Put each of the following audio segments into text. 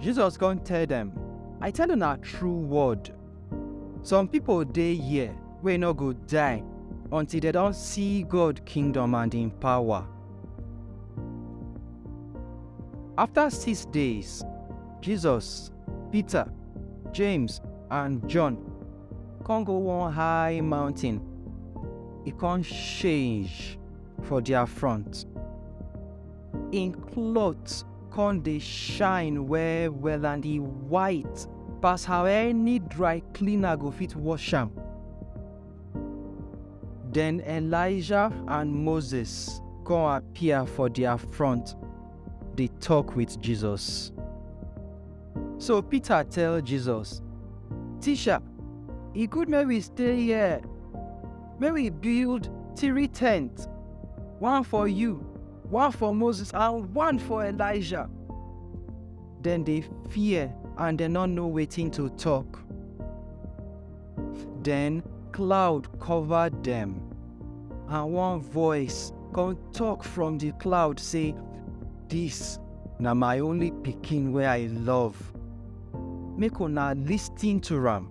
Jesus come tell dem, I tell una true word, some people dey here wey no go die until dem don see God kingdom and im power. After six days, Jesus, Peter, James and John come go one high mountain, e come change for their front. Im cloth come dey shine well well and e white pass how any dry cleaner go fit wash am. Den Elijah and Moses come appear for dia front dey tok wit Jesus. So Peter tell Jesus, Teacher, e good make we stay here. Make we build three tents, one for you, one for Moses, and one for Elijah. Then they fear and they not know waiting to talk. Then cloud covered them, and one voice come talk from the cloud say, "This na my only pikin where I love. Make una listen to am."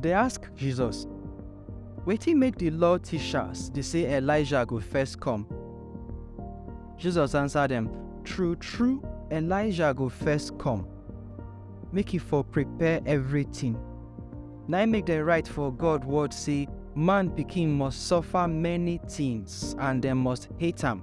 Dey ask Jesus, Wetin make di Law tishas dey sey Elijah go first kom? Jesus ansa dem, Tru-tru, Elijah go first kom, make e for prepare evritin. Na-im make dem rite for God wod sey, Man Pikin must sofa many tins and dem must hate am.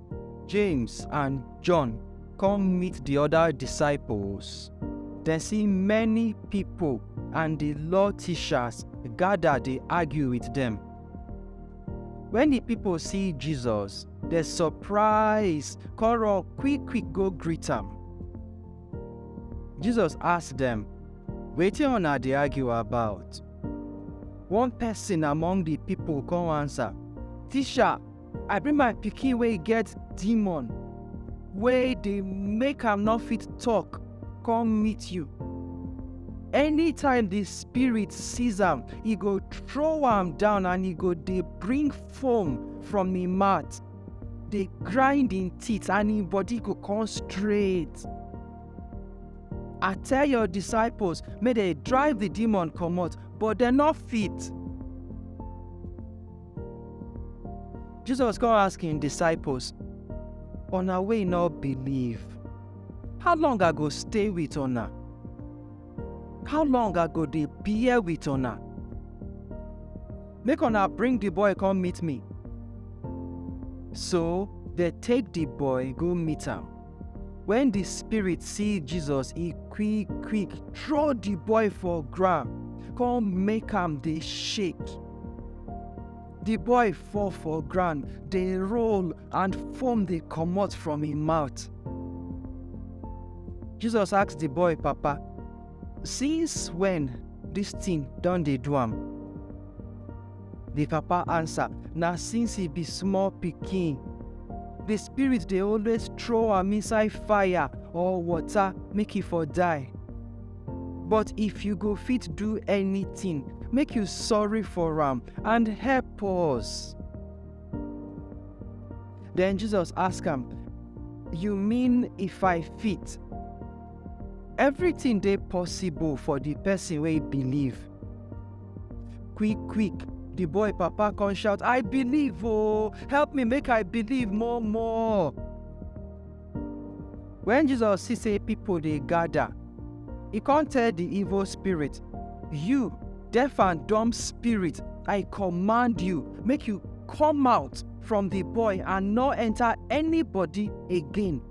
James and John come meet the other disciples. Dem see many people and the law teachers gather dey argue with them. When the people see Jesus, dem surprise come run quick quick go greet am. Jesus ask them, Wetin una dey argue about? One person among the people come answer, Teacher, I bring my pikin wey get demon wey dey make am no fit talk come meet you. Anytime the spirit sees am, e go throw am down and e go dey bring foam from im mouth, dey grind im teeth and im body go come straight. I tell your disciples make dem drive the demon comot but dem no fit. Jesus come ask him disciples, Una wey no believe, how long I go stay with una? How long I go dey bear with una? Make una bring the boy come meet me. So they take the boy go meet am. Wen di spirit see Jesus, e quick-quick throw di boy for ground come make am dey shake. Di boy fall for ground, dey roll and foam dey comot from im mouth. Jesus ask di boy papa, Since wen dis tin don dey do am? Di papa ansa, Na since he be small pikin. Di spirit dey always trow am inside fire or water make he for die. But if you go fit do anytin, make you sorry for am and help us. Den Jesus ask am, You mean if I fit? Evritin dey possible for di pesin wey believe. Quick, quick, the boy papa come shout, I believe, oh, help me make I believe more, more. When Jesus see say people dey gather, he come tell the evil spirit, You, deaf and dumb spirit, I command you, make you come out from the boy and not enter anybody again.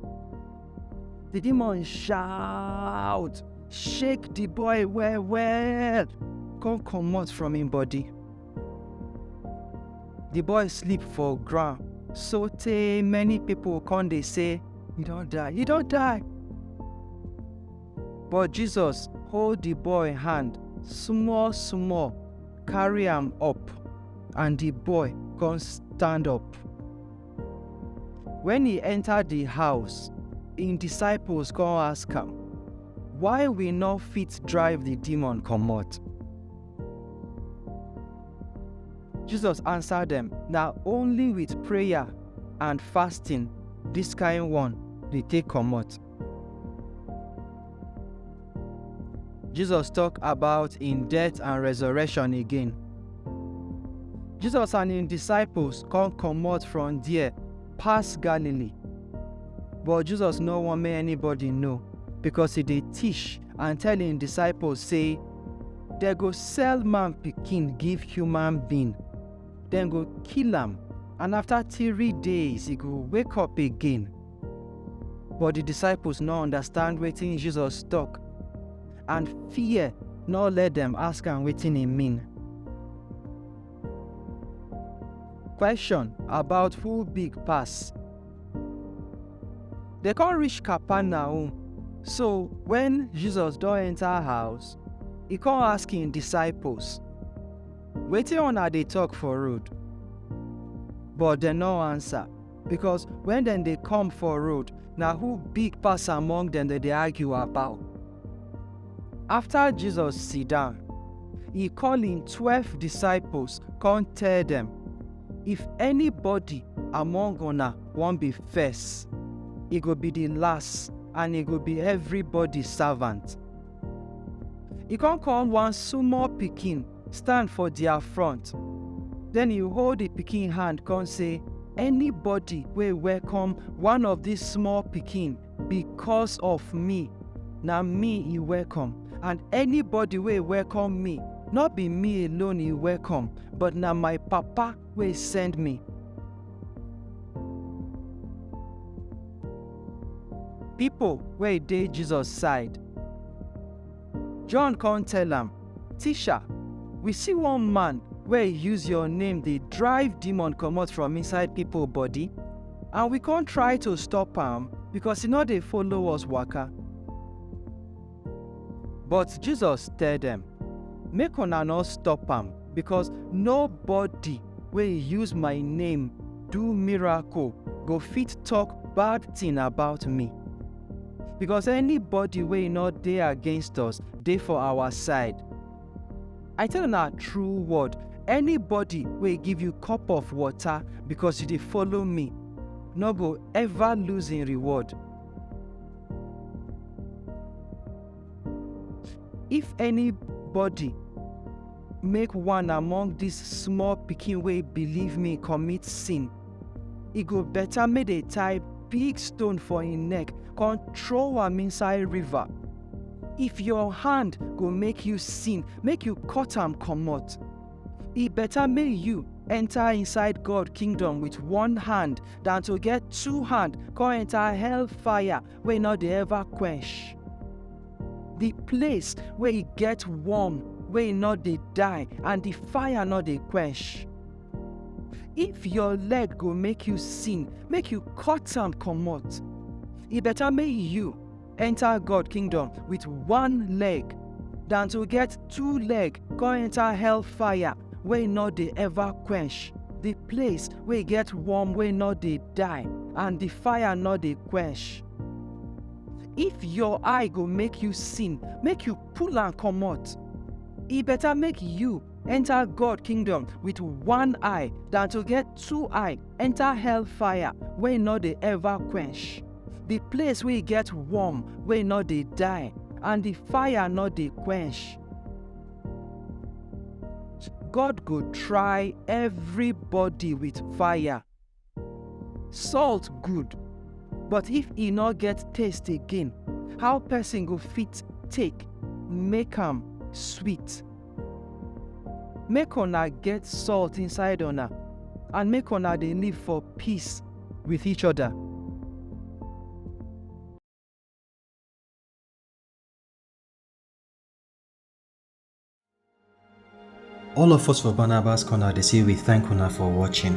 The demon shout, shake the boy well well, come comot from him body. The boy sleep for ground so tey many people come dey say, he don die, he don die. But Jesus hold the boy hand small small, carry am up and the boy come stand up. Wen e enta di house, im disciples come ask am, Why we nor fit drive di demon comot? Jesus ansa dem, Na only wit prayer and fasting dis kain one dey take comot. Jesus tok about im death and resurrection again. Jesus and im disciples come comot from there pass Galilee. But Jesus no wan make anybody know because e dey teach and tell im disciples say dem go sell man pikin give human being, dem go kill am and after three days e go wake up again. But di disciples no understand wetin Jesus tok, and fear no let dem ask am wetin e mean. Question about who big pass. Dey come reach Capernaum, so wen Jesus don enta house, e come ask im disciples, Wetin una dey tok for road? But dem no ansa. because when dem dey come for road na who big pass among dem dem dey argue about after jesus sit down he call him twelve disciples come tell dem if anybody among una wan be first e go be the last and e go be everybody servant E come call one small pikin stand for their front. Then he hold the pikin hand come say, Anybody wey welcome one of these small pikin because of me, na me he welcome. And anybody wey welcome me, no be me alone he welcome, but na my papa wey send me. Pipo wey dey Jesus side. John kon tell am, Tisha, we si one man wey use yor name dey drive demon komot from inside pipo body, and we kon try to stop am, bikos e nor dey follow us waka. But Jesus tell dem, Make una nor stop am, becos nobody wey use my name do miracle go fit tok bad tin about me. Becos anybody wey nor dey against us dey for our side. I tell una true word, anybody wey give you cup of water becos you dey follow me, nor go ever lose hin reward. If anybody make one among dis small pikin wey believe me commit sin, e go better make dey tie big stone for im neck con throw am inside river. If your hand go make you sin, make you cut am comot. E better make you enter inside God kingdom with one hand than to get two hand come enter hell fire wey no dey ever quench. The place where e get warm wey e no dey die and the fire no dey quench. If your leg go make you sin, make you cut am comot. E better make you enter God kingdom with one leg than to get two leg come enter hell fire wey no dey ever quench, the place wey get worm wey no dey die and the fire no dey quench. If your eye go make you sin, make you pull am comot. E better make you enter God kingdom with one eye than to get two eye enter hell fire wey no dey ever quench. the place wey get worm wey no dey die and the fire no dey quench. God go try everybody with fire. Salt good, but if e no get taste again, how person go fit take make am sweet? Make una get salt inside una and make una dey live for peace with each other. All of us for Barnabas Corner they say we thank una for watching.